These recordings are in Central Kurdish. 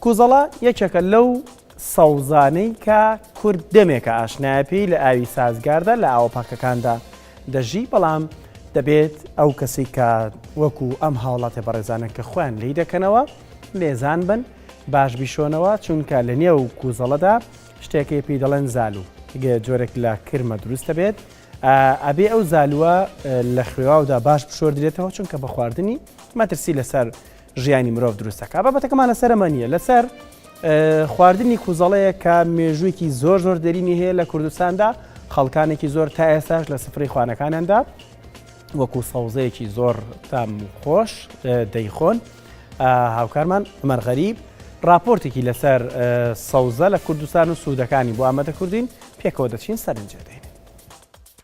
کوزەڵە یەکێکە لەو سەوزانەی کە کورد دەمێکە ئاشنایە پێی لە ئاوی سازگاردا لە ئاوە پاکەکاندا دەژی بەڵام دەبێت ئەو کەسی کە وەکو ئەم هاوڵاتە بەڕێزانە کە خۆیان لی دەکەنەوە لێزان بن باش بیشۆنەوە چونکە لە نێو کوزەڵەدا شتێکی پێی دەڵێن زالو جۆرێک لە کرمە دروست دەبێت ئەبێ ئەو زالووە لە خوێواودا باش بشۆردرێتەوە چونکە بە خواردنی مەترسی لەسەر ژیانی مرۆڤ دروست دەکات بابەتەکەمان لەسەر ئەمە نییە لەسەر خواردنی کوزەڵەیە کە مێژوویکی زۆر زۆر دەرینی هەیە لە کوردستاندا خەڵکانێکی زۆر تا ئێستاش لە سفری خوانەکانیاندا وەکو سەوزەیەکی زۆر تام خۆش دەیخۆن هاوکارمان مەرغەریب راپۆرتێکی لەسەر سەوزە لە کوردستان و سوودەکانی بۆ ئامادە کوردین پێکەوە دەچین سەرنجێ دەین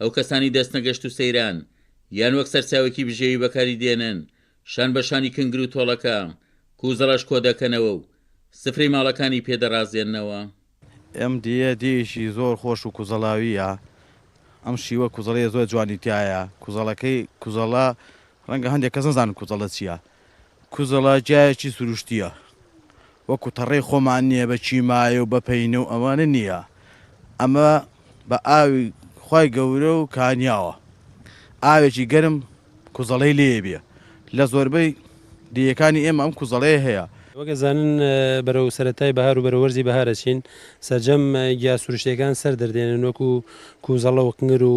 ئەو کەسانەی دەستنەگەشت و سەیران، یان وەک سەرچاوەیەکی بژێوی بەکاری دێنن، شان بە شانی کنگر و تۆڵەکە، کوزەڵەش کۆ دەکەنەوە و سفرەی ماڵەکانی پێ دەڕازێننەوە. ئەم دێیە دێیەکی زۆر خۆش و کوزەڵاوییە. ئەم شیوە کوزەڵییە زۆر جوانی تیایە. کوزەڵەکەی، کوزەڵە، ڕەنگە هەندێک کەس نەزانن کوزەڵە چییە. کوزەڵە جایەکی سروشتییە وەکو تەڕەی خۆمان نییە بە کیمایە و بە پەینە و ئەوانە نییە ئەمە بە ئاوی خی گەورە و کانیاوە ئاوێکی گەرم کوزەڵەی لێ بێ لە زۆربەی دیەکانی ئێمە ئەم کوزەڵەیە هەیە وەک ئەزانن بەرەو سەرەتای بەهار و بەرەو وەرزی بەهار ئەچین سەرجەم گیا سروشتیەکان سەر دەردێنن وەکو کوزەڵە و قنگر و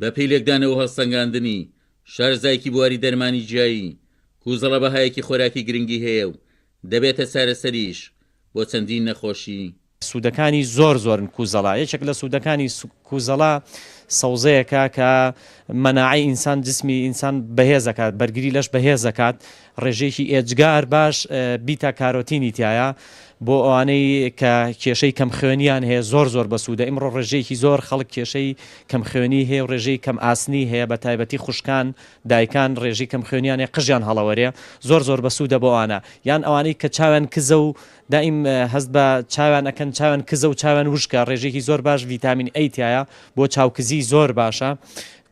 بە پێی لێکدانەوە و هەڵسەنگاندنی، شارەزایەکی بواری دەرمانی جیایی، کوزەڵە بەهایەکی خۆراکی گرنگی هەیە و دەبێتە چارەسەریش بۆ چەندین نەخۆشی. سوودەکانی زۆر زۆرن کوزەڵە. یەکێک لە سوودەکانی کوزەڵە سەوزەیەکە کە مەناعەی ئینسان، جسمی ئینسان بەهێز دەکات، بەرگری لەش بەهێز دەکات، ڕێژەیەکی ئێجگار باش بیتا کارۆتینی تیایە بۆ ئەوانەی کە کێشەی کەم خوێنیان هەیە زۆر زۆر بەسوودە ئیمڕۆ ڕێژەیەکی زۆر خەڵک کێشەی کەم خوێنی هەیە و ڕێژەی کەم ئاسنی هەیە بە تایبەتی خوشکان دایکان ڕێژی کەم خوێنیان هەیە قژیان هەڵەوەرێ زۆر زۆر بەسوودە بۆ ئەوانە یان ئەوانەی کە چاویان کزە و دائیم هەست بە چاویان ئەکەن چاویان کزە و چاویان وشکە ڕێژێکی زۆر باش ڤیتامین ئەی تایە بۆ چاوکزی زۆر باشە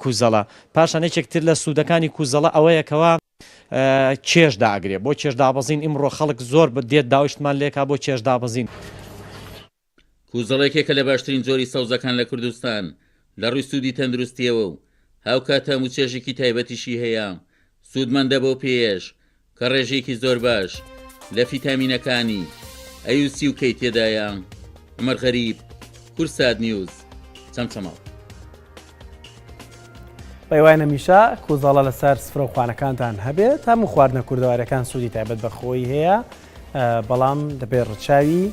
کوزەڵە پاشان یەکێکتر لە سوودەکانی کوزەڵە ئەوەیەکەوە کێش داگرێ بۆ کێش دابەزین ئیمڕۆ خەڵک زۆر دێت داوشتمان لێکا بۆ کێش دابەزین. کوزەڵ یەکێکە لە باشترین جۆری سەوزەکان لە کوردستان لە ڕووی سوودی تەندروستییەوە و هاوکات تام و چێژێکی تایبەتیشی هەیە، سوودمەندە بەو پێیەش کە ڕێژەیەکی زۆر باش لە فیتامینەکانی، ئەی و سی و کەی، تێدایە. عومەر غەریب، کورسات نیوز، چەمچەماڵ. پێیوای نەمیشە کوزەڵە لەسەر سفرە و خوانەکانتان هەبێت تا من خواردنە کوردەوارەکان سوودی تایبەت بەخۆی هەیە بەڵام دەبێت ڕچاوی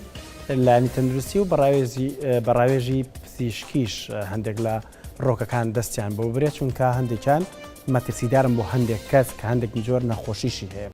لانی تەندروستی و بەڕاوێزی بەڕاوێژی پزیشکیش هەندێک لە ڕۆکەکان دەستیان بۆ برێت چونکە هەندێکیان مەترسیدارم بۆ هەندێک کەس کە هەندێک جۆر نەخۆشیشی هەیە